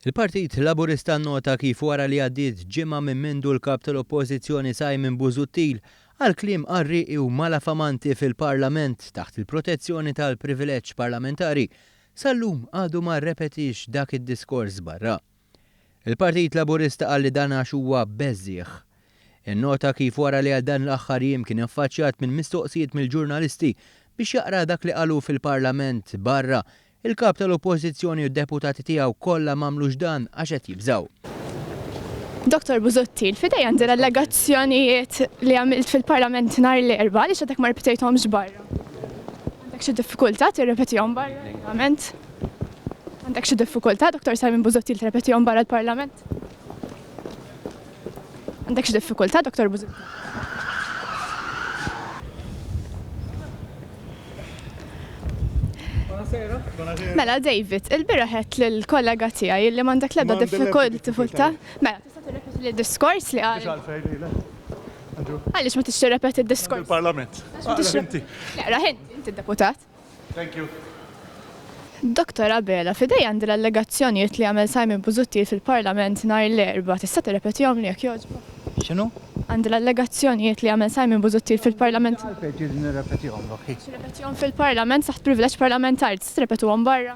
Il-Partit Laburista nnota kif wara li għaddiet ġimgħa minn mindu l-Kap tal-Oppożizzjoni Simon Busuttil qal kliem qarrieqi u malafamanti fil-Parlament taħt il-protezzjoni tal-privileġġ parlamentari, sal-lum għadu ma rrepetiex dak id-diskors barra. Il-Partit Laburista qal li dan għax huwa beżżiegħ. Innota kif wara li għal dan l-aħħar jiem kien affaċċjat minn mistoqsijiet mill-ġurnalisti biex jaqra dak li qalu fil-Parlament barra Il-Kap tal-Oppożizzjoni u d-Deputati tiegħu kollha m'għamlux dan għax qed jibżgħu. Dottor Busuttil, f'idejja għandi l-allegazzjonijiet li għamilt fil-Parlament nhar l-Erbgħa, għaliex għadek ma ripetejthomx barra? Għandek xi diffikultà tirrepetihom barra l-Parlament? Għandek xi diffikultà, Dottor Simon Busuttil, tirrepetihom barra l-Parlament? Għandek xi diffikultà, Dottor Busuttil? Mela, David, il-bira ħed l-kollega tijaj li mandek lebda diffikult tifulta. Mela, tista' tirrepeti li diskors li għal. Għalix ma tixti repeti diskors? Il-parlament. Raħin, inti deputat. Thank you. Doktor Abela, f'idejja għandi l-allegazzjonijiet li għamel Simon Busuttil fil-Parlament nhar l-Erbgħa. Tista' tirrepetihomli jekk jogħġbok? X'inhu? Għandi l-allegazzjonijiet li għamel Simon Busuttil fil-Parlament. Għalfejn tridni nirrepetihomlok hi? Biex nirrepetihom fil-Parlament taħt privileġġ parlamentari. Tista' tirrepetuhom barra?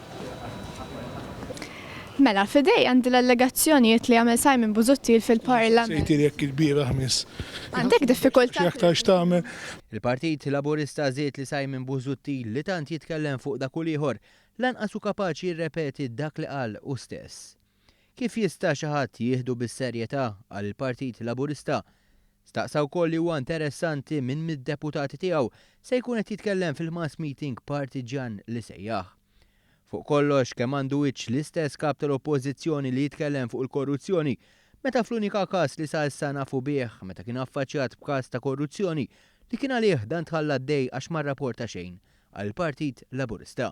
Mela, f'idejja għandi l-allegazzjonijiet li għamel Simon Busuttil fil-Parlament. Sejtili jekk il-bieraħ miss. Għandek diffikultà. X'aktar x'tagħmel? Il-Partit Laburista żied li Simon Busuttil li tant jitkellem fuq dak u l-ieħor, lanqas hu kapaċi jirrepeti dak li qal hu stess. Kif jista' xi ħadd jieħdu bis-serjetà għal il-Partit Laburista? Staqsa wkoll li huwa interessanti min mid-deputati tiegħu se jkun qed jitkellem fil-mass meeting partiġġjan li sejjaħ. Fuq kollox kemm għandu wiċċ l-istess Kap tal-Oppożizzjoni li jitkellem fuq il-korruzzjoni meta fl-unika każ li sa issa nafu bih meta kien affaċjat b'każ ta' korruzzjoni li kien għalih dan tħalla għaddej għax ma rraporta xejn għall-Partit Laburista.